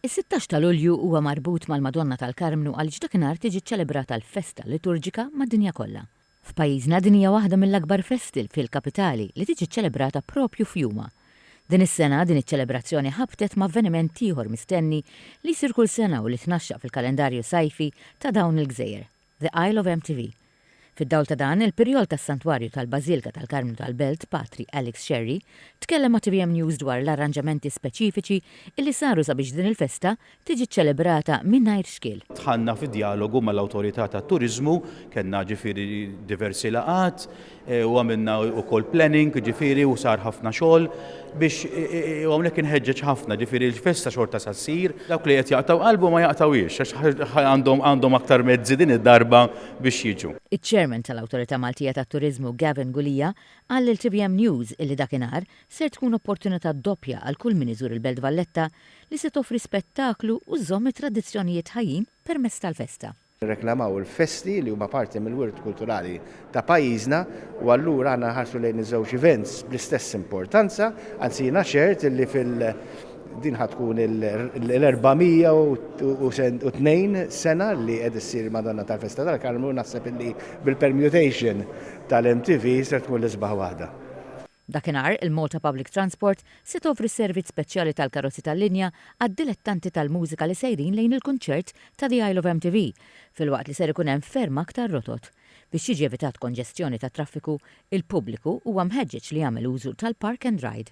Is-sittax ta' Lulju huwa marbut mal-Madonna tal-Karmnu għaliex dakinhar tiġi ċċelebrata l-festa liturġika mad-dinja kollha. F'pajjiżna din hija waħda mill-akbar festi fil-kapitali li tiġi ċċelebrata propju f'jumha. Din is-sena din iċ-ċelebrazzjoni ħabtet ma' avveniment ieħor mistenni li jsir kull sena u li tnaxxaq fil-kalendarju sajfi ta' dawn il-gżejjer. The Isle of MTV. Fid-dawl ta' dan, il-Pirjol tas-Santwarju tal-Bażilka tal-Karmnu tal-Belt, Patri Alex Scerri, tkellem ma' tvm News dwar l-arranġamenti speċifiċi li saru sabiex din il-festa tiġi ċċelebrata mingħajr xkiel. Dħalna fi djalogu mal-Awtorità tat-Turiżmu, kellna ġifieri diversi laqgħat, u għamilna wkoll planning jiġifieri u sar ħafna xogħol biex u hawnhekk inħeġġeġ ħafna jiġifieri l-festa xorta sa ssir. Dawk li qed jaqtgħu qalbhom ma jaqtgħuhiex għax għandhom għandhom aktar mezzi din id-darba biex jiġu. Iċ-Chairman tal-Awtorità Maltija tat-Turiżmu Gavin Gulia qal lil tvm News illi dakinhar ser tkun opportunità doppja għal kull min iżur il-Belt Valletta li se toffri spettaklu u żżomm it-tradizzjonijiet ħajjin permezz tal-festa. nirreklamaw il-festi li huma parti mill-wirt kulturali ta' pajjiżna u allura aħna nħarsu lejn iż-żewġ events bl-istess importanza, anzi jiena ċert illi fil din ħa tkun l-402 sena li qed issir Madonna tal-Festa tal-Karmnu naħseb illi bil-permutation tal-MTV ser tkun l-isbaħ waħda. Dakinhar, il-Malta Public Transport se tovri servizz speċjali tal-karozzi tal-linja għad-dilettanti tal-mużika li sejrin lejn il-kunċert ta' The Isle of MTV, filwaqt li ser ikun hemm ferm aktar rotot. Biex jiġi evitat konġestjoni tat-traffiku, il-pubbliku huwa mħeġġeġ li jagħmel użu tal-Park and Ride.